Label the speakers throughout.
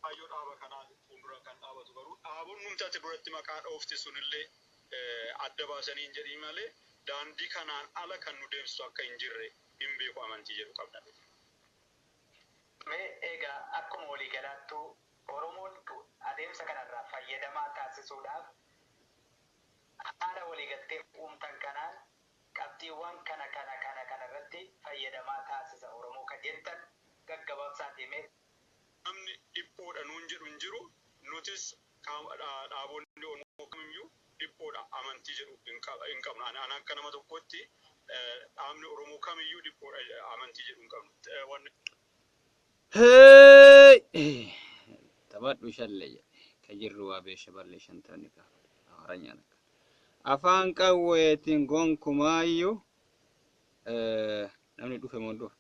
Speaker 1: kaayyoo dhaaba kanaa fuuldura kan dhaabatu garuu dhaabonni nuti ati duratti maqaa dhoofte sunillee adda baasanii hin jedhin malee daandii kanaan ala kan nu deemsisu akka hin jirre hin beeku amantii jedhu qabna. Mee
Speaker 2: egaa akkuma waliigalaattuu Oromoon adeemsa kanarraa fayyadamaa taasisuudhaaf Haala waliigaltee uumtan kanaan qabxiiwwan kana kana kana kana irratti fayyadamaa taasisa Oromoo ka jettan gaggababsaatii mee. Namni
Speaker 1: dhiphoodha nuun jedhu hin jiru, nutis dhaabonni Oromoo kamiyyuu dhiphoodha amantii jedhu hin qabnu. Ani akka nama tokkootti dhaabni Oromoo kamiyyuu dhiphoodha amantii jedhu hin qabnu. Hey!
Speaker 3: Taphadhu shalle jedhe. Ka jirru waa beesha balle shantoonni gaafate. Amaranyaan akka. Afaan qawweetiin gonkumaayyu eh, namni dhufe moo hin dhufe?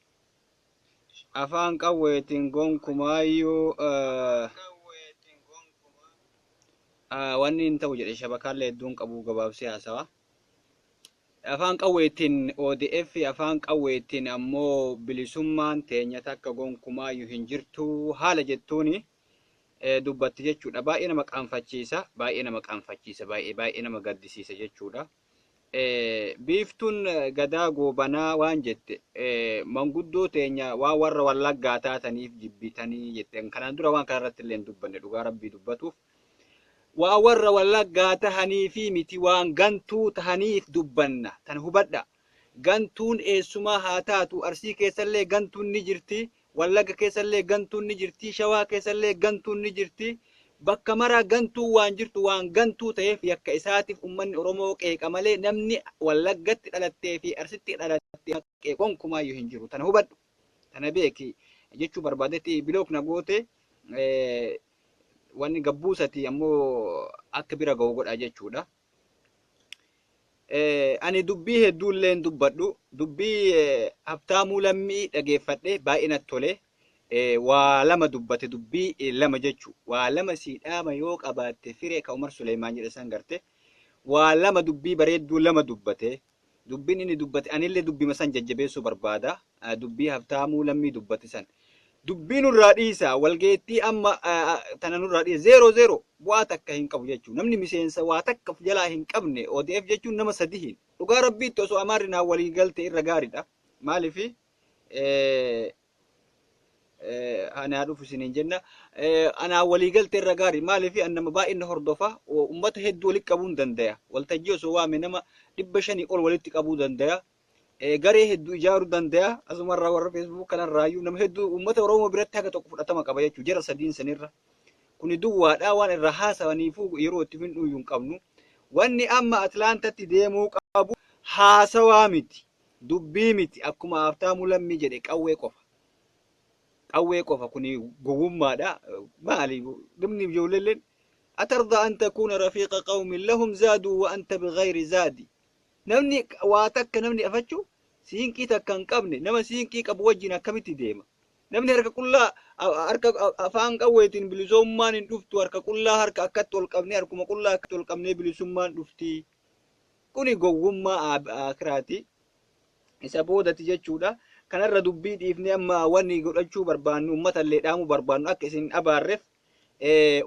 Speaker 3: Afaan qawweetiin gonkumaayyu eh, ah, wanni hin ta'u jedhe shabakaallee hedduun qabuu gabaabsee haasawa. Afaan qawweetiin odf, afaan qawweetiin ammoo bilisummaan teenya takka gonkumaayyu hin jirtu haala jettuun dubbatti jechuudha. Baay'ee nama qaanfachiisa, baay'ee nama qaanfachiisa, baay'ee baay'ee nama gaddisiisa jechuudha. Biiftuun Gadaa Goobanaa waan jette manguddoo teenya waan warra Wallaggaa taataniif jibbitanii jette. Kanaan dura waan kanarratti illee hin dubbanne dhugaa rabbii dubbatuuf. Waan warra Wallaggaa tahaniifii miti waan gantuu tahaniif dubbanna. Tana hubadhaa. Gantuun eessumaa haa taatu Arsii keessallee gantuun ni jirti, Wallagga keessallee gantuun ni jirti, Shawaa keessallee gantuun ni jirti. Bakka maraa gantuun waan jirtu waan gantuu taheef yakka isaatiif ummanni Oromoo qeeqa malee namni Wallaggatti dhalattee fi Arsitti dhalatte nama qeequ gonkumaayyu hin jiru. Tana hubadhu. Tana beeki. Jechuu barbaadetti block na goote. wanni gabbuusati ammoo akka bira ga'u godha jechuudha. Ani dubbii hedduullee hin dubbadhu. Dubbii Habtaamuu Lammii dhageeffadhe baay'ee natti tole. Waa lama dubbate dubbii lama jechuu. Waa lama sii dhaama yoo qabaatte firee ka Umar Suleemaan jedhe san garte. Waa lama dubbii bareedduu lama dubbate. Dubbiin inni dubbate anillee dubbima san jajjabeessuu barbaada. Dubbii Habtaamuu Lammii dubbate san. Dubbii nurraa dhiisaa walgeettii amma tana nurraa dhiisa zeeroo zeeroo bu'aa takka hin qabu jechuun namni miseensa waa takka of jalaa hin qabne ODF jechuun nama sadihiin dhugaa rabbiitti osoo amaarri naa walii galte irra gaaridha maaliif ani haa dhufu isiniin jenna. Anaa walii galte irra gaari maaliif an nama baay'een na hordofa uummata hedduu walitti qabuun dandaya. Waltajjii osoo waame nama dhibba shanii ol walitti qabuu dandaya. Garee hedduu ijaaruu dandaya. Asumarraa warra feesbuuk kanarraayyuu nama hedduu uummata Oromoo biratti haga tokko fudhatama qaba jechuudha jara sadiin sanirra. Kuni duwwaadhaa waan irraa haasawaniifuu yeroo itti findhuuyyuu hin qabnu. Wanni amma Atlaantatti deemuu qabu haasawaa miti. Dubbii miti akkuma Haabtaamuu Lammii jedhe qawwee qofa. Qawwee qofa kuni gowwummaadha. Maali dhumni ijoolleelleen atarda an takuuna rafiiqa qawmin lahum zaaduu wa anta bighayri zaadi. Namni waa takka namni afachu siinqii takka hin qabne nama siinqii qabu wajjin akkamitti deema? Namni harka qullaa harka afaan qawweetiin bilisummaan hin dhuftu harka qullaa harka akkatti ol qabnee harkuma qullaa akkatti ol qabnee bilisummaan dhufti. Kuni gowwummaa aakhiraati. Isa boodati jechuudha. Kanarra dubbii dhiifnee amma wani godhachuu barbaannu ummatallee dhaamuu barbaannu akka isin hin abaarref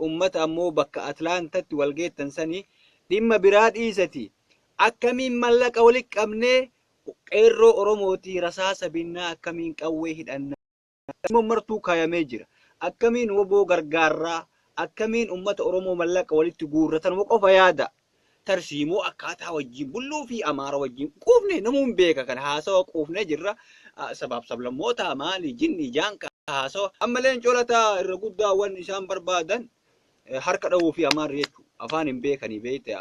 Speaker 3: ummata ammoo bakka Atlaantatti wal geettan sani dhimma biraa dhiisati akkamiin mallaqa walitti qabnee qeerroo Oromootii rasaasa binnaa akkamiin qawwee hidhannaa tarsiimoon martuu kaayamee jira. Akkamiin wbo gargaarraa? Akkamiin ummata Oromoo mallaqa walitti guurra? Tanuma qofa yaadaa. Tarsiimoo akkaataa wajjin bulluu fi Amaara wajjin quufne namuu hin beeka kana haasawa quufnee jirra. Sabaaf sablammootaa maali jinni jaanka haasawa. Amma leencoo lataa irra guddaa wan isaan barbaadan harka dhahuu fi amaarri jechuun afaan hin beekanii beekte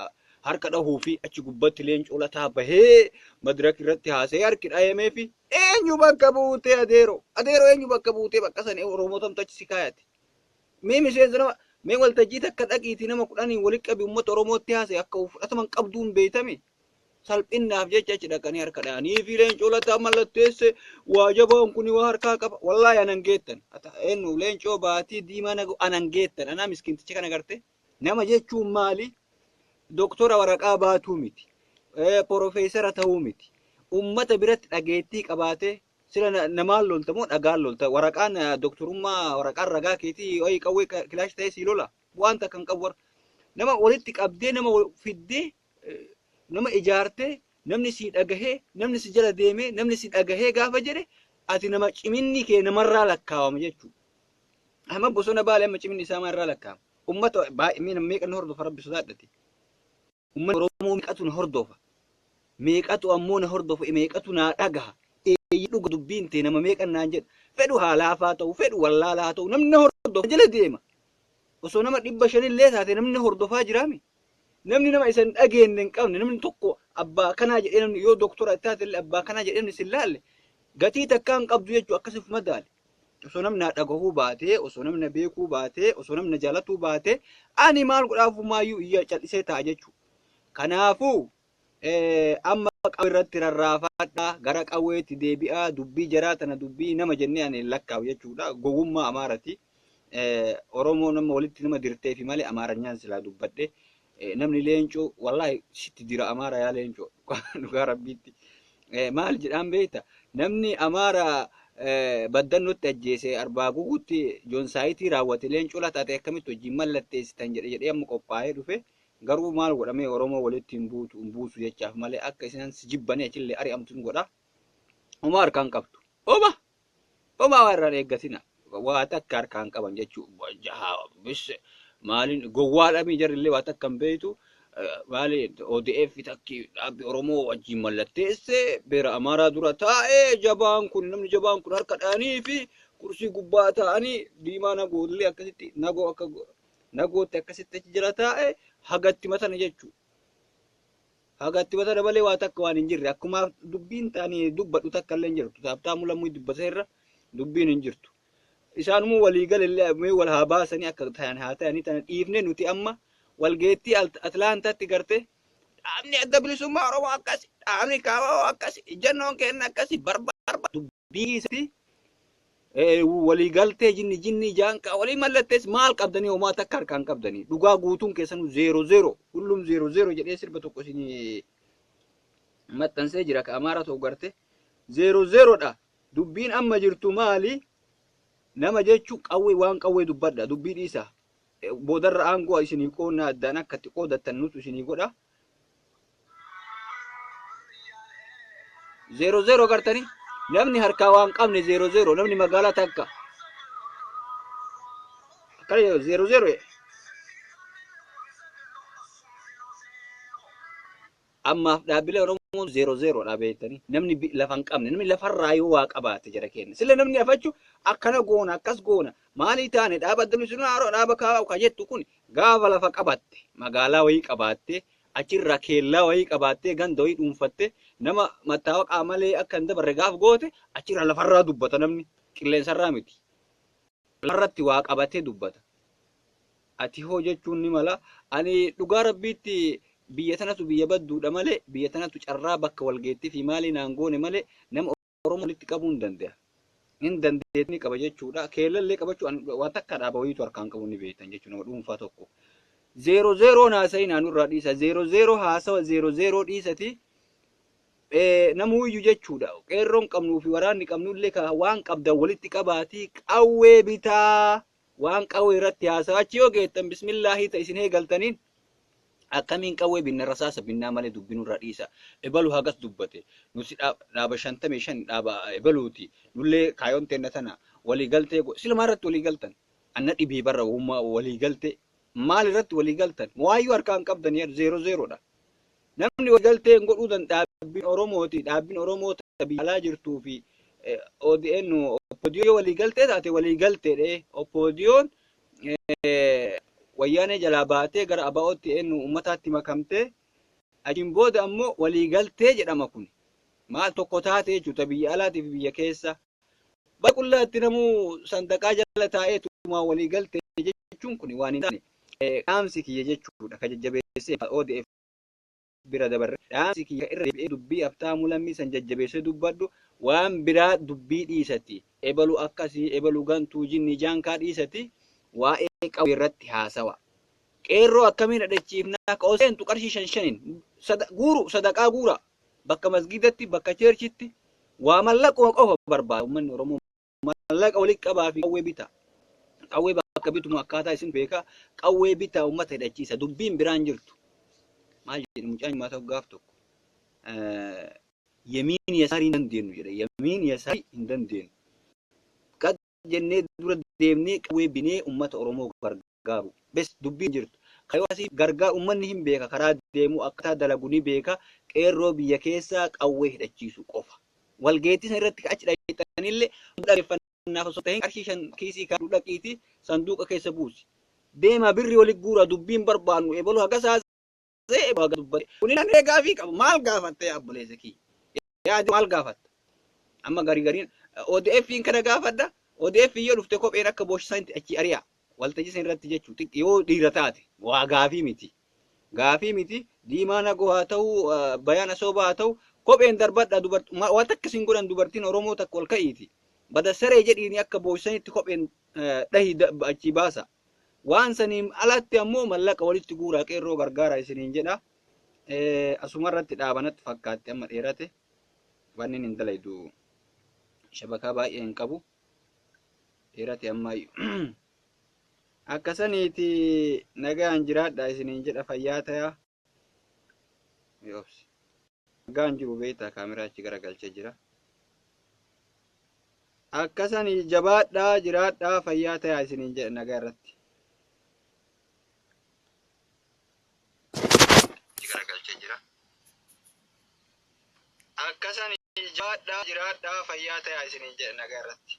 Speaker 3: harka dhahuu fi achi gubbatti leencoo lataa bahee madirak irratti haasa'ee harki dhahemee fi eenyu bakka buutee adeero adeero eenyu bakka buutee bakka sana oromootamtu achi si kaayate mee miseensa nama mee waltajjii takka dhaqiiti nama kudhaniin walitti qabi uummata oromootti haasa'e akka fudhataman qabduun beeytame salphinnaaf jecha achi dhaqanii harka dha'anii fi leencoo lataa mallatteesse waa jabaan kun waa harkaa qaba wallaahi anan geettan eenyu leencoo baatii diimaa nagu anan geettan anaa miskinticha kana garte nama jechuun maali doktora waraqaa baatuu miti porofeesara ta'uu miti ummata biratti dhageettii qabaatee sila namaan lolta moo dhagaan lolta waraqaan doktorummaa waraqaan ragaa keetii wayii qawwee kilaash ta'ee sii lola waan takkan qabu warra nama walitti qabdee nama fiddee nama ijaartee namni sii dhagahee namni si jala deemee namni si dhagahee gaafa jedhe ati nama ciminni kee namarraa lakkaawama jechuudha. Amma bosona baale amma ciminni isaa maarraa lakkaawama. Uummata baay'ee meeqa na hordofa rabbi sodaadhati. Uummata Oromoo meeqatu na hordofa. Meeqatu ammoo na hordofa meeqatu naa dhagaha. Eeyyii dhuga dubbiin tee nama meeqa naan jedha. Fedhu haalaafaa ta'u fedhu wallaalaa ta'u namni na hordofa jala deema. Osoo nama dhibba shanillee taate namni na hordofaa jiraami. Namni nama isa hin dhageenne hin qabne, namni tokko abbaa akkanaa jedhee namni yoo doktora taate illee abbaa akkanaa jedhee namni si hin laalle gatii takkaa hin qabdu jechuudha akkasi of madaali. Osoo namni na dhagahuu baatee, osoo namni na beekuu baatee, osoo namni na jaalatuu baatee ani maal godhaafuu maayyuu iyya cal'isee taa'a jechuudha. Kanaafuu Amma qawwe irratti rarraafadha, gara qawweetti deebi'a, dubbii jaraa tana dubbii nama jennee ani hin lakkaa'u jechuudha. Gowwummaa Amaarati. Oromoo nama walitti nama dirteefi malee Amaaranyaan silaa dubbadhe. Namni leencoo wallaahi sitti dira Amaara yaa leencoo dhugaa rabbiitti. Maal jedhaan beekta? Namni Amaara baddannotti ajjeese arbaa gugutti joonsaayitii raawwate leencoo lataate akkamitti wajjin mallatteessitan jedhe jedhee amma qophaa'ee dhufe Garuu maal godha mee oromoo walitti hin buutu hin buusu jechaaf malee akka isinan si jibbanii achillee ari'amtu hin godha homaa harkaa hin qabdu homa homaa waa irraa hin eeggatina waa takka harkaa hin qaban jechuu jahaa bisse maaliin gowwaadhamii jarrillee waa takka hin beeytu maali ODF takki dhaabbi oromoo wajjiin mallatteesse beera amaaraa dura taa'e jabaan kun namni jabaan kun harka dhaanii fi kursii gubbaa taa'anii diimaa nagoollee akkasitti nagoo akka Nagootti akkasitti achi jira taa'e haga itti matane jechuudha. Haga itti matane malee waa takka waan hin jirre akkuma dubbiin taani dubbadhu takka illee hin jirtu. Taabtaamuu lammuu dubbata irra dubbiin hin jirtu. Isaanumuu walii galee mee wal haa baasanii akka ta'an haa ta'anii tana dhiifne nuti amma walgeettii Atlaantaatti gartee dhaabni adda bilisummaa Oromoo akkasi dhaabni kaabaa akkasi ijjannoon keenya akkasi barbaada. biisatti waliigaltee jinni jinnii jaanqaa walii mallattees maal qabdanii homaa takka harkaan qabdanii dhugaa guutuun keessanuu zeero zeero hullum zeero zeero jedhee sirba tokko isin maxxansee jira ka amaara ta'u garte zeero zeerodha dubbiin amma jirtu maali nama jechuun qawwee waan qawwee dubbadha dubbii dhiisa boodarra aangoo isinii qoonnaa addaan akka itti qoodattan nutu isinii godha Zeeroo zeeroo gartanii namni harkaa waan qabne zeeroo zeeroo namni magaalaa takka akkana jedhu zeeroo zeeroo jedha. Ammaaf dhaabbilee Oromoo zeeroo zeeroo dhaabeettanii namni bi- lafa hin qabne namni lafarraa yoo waa qabaate jara keenya sila namni afachu akkana goona akkas goona Maalii taane dhaaba adda bilisummaa Oromoo dhaaba KFO ka jettu kun gaafa lafa qabatte magaalaa wayii qabaattee achirraa keellaa wayii qabaattee ganda wayii dhuunfatte nama mattaawaqaa malee akka hin dabarre gaaf goote achirraa lafarraa dubbata namni qilleensarraa miti. Lafarratti waa qabatee dubbata. Ati hoo jechuun ni mala ani dhugaa rabbiitti biyya tanatu biyya badduudha malee biyya tanatu carraa bakka walgeettii fi maalii naan goone malee nama Oromoo walitti qabuu hin danda'a. Hin dandeettii ni qaba jechuudha. Keellallee qabachuu an- waan takka dhaaba wayiitu harkaan qabu ni beektan jechuudha nama dhuunfaa tokko. Zeero zeeroo haasa'ii naannoo irraa dhiisa. Zeero zeeroo haasawa zeero zeeroo dhiisati. Eh, Namuuyyu jechuudha. Qeerroon qabnuu fi waraanni qabnullee ka waan qabdan walitti qabaatii qawwee bitaa. Waan qawwee irratti haasawa achi yoo geettan bismillaahii ta isin eegaltaniin akkamiin qawwee binna rasaasa binnaa malee dubbi nurraa dhiisa ebalu hagas dubbate nuti dhaaba shantamii shan dhaaba ebaluuti nullee kaayoon teenna tana walii galtee go silumaa irratti walii galtan anna dhibee barra wahummaa walii galtee maal irratti walii galtan waayyuu harkaa hin qabdan yaa zeero zeeroodha Namni waliigaltee hin godhuu dan dhaabbiin Oromooti, dhaabbiin Oromoo ta biyya alaa jirtuu fi ODN, OPDO yoo waliigaltee taate waliigaltee dhe. OPDOn wayyaanee jalaa baatee gara ABOtti eennu uummataatti makamtee achiin booda ammoo waliigaltee jedhama kun. Maal tokko taate jechuudha biyya alaatii fi biyya keessa. Bara qullaatti namuu sandaqaa jala taa'ee tumaa walii galte jechuun kun waan hin taane dhaamsi kiyya jechuudha ka jajjabeessee ka odf bira dabarre dhaamsi kiyya irra deebi'ee dubbii Habtaamuu Lammii san jajjabeessee dubbadhu waan biraa dubbii dhiisati ebalu akkasii ebalu gantuu jinnii jaankaa dhiisati waa'ee qawwee irratti haasawa. Qeerroo akkamiin dhadhachiifnaa ka ol seentu qarshii shan shaniin guuru sadaqaa guuraa. bakka masgiidatti bakka cheerchitti waa mallaquma qofa barbaada ummanni oromoo mallaqa walitti qabaa fi qawwee bitaa qawwee bakka bitumu akkaataa isin beekaa qawwee bitaa ummata hidhachiisa dubbiin biraan jirtu maal jedhu mucaan maata gaaf tokko yemiin yasaarii hin dandeenyu jedhe yemiin yasaarii hin dandeenyu jennee dura deemnee qawwee binee ummata Oromoo gargaaru. Bes dubbiin jirtu. Ka yoo asii gargaar ummanni hin beeka karaa deemu akkataa dalagu ni beeka qeerroo biyya keessaa qawwee hidhachiisu qofa. Walgeettii san irratti ka achi dhayxanille hunduu dhageeffannaaf osoo hin tahin qarshii shan kiisii kaadhu dhaqiiti sanduuqa keessa buusi. Deemaa birri wali guuraa dubbiin barbaannu ebalu hagasaa haasa'e baga dubbate. Kun illee mee gaafii qaba maal gaafatta yaa obboleessa kiyya? Yaa jiru maal gaafatta? Amma garii gariin ODFiin kana gaafadha. ODF yoo dhufte kopheen akka booshisanitti achi ari'a. Waltajjii san irratti jechuu xiqqi yoo dhiira taate waa gaafii miti. Gaafii miti diimaa nagoo haa ta'u bayaan asoobaa haa ta'u kopheen darbadha dubartii waan takka isin godhan dubartiin Oromoo takka ol ka'iiti. Bada saree jedhiini akka booshisanitti kopheen dhahi achi baasa. Waan saniin alatti ammoo mallaqa walitti guuraa qeerroo gargaara isiniin jedha. Asumarratti dhaabanatti fakkaatti amma dheerate. Waan inni hin dalaydu shabakaa baay'ee hin qabu. Dheerate ammaayyu. Akka saniiti nagaan jiraadha isiniin jedha fayyaa tayaa. Ni obsi. Nagaan jiru beektaa kaameraa achi garagalchee jira. Akkasan jabaadhaa jiraadhaa fayyaa tayaa isiniin jedha nagaa irratti. Achi garagalchee jira. Akkasan jabaadhaa jiraadhaa fayyaa tayaa isiniin jedha nagaa irratti.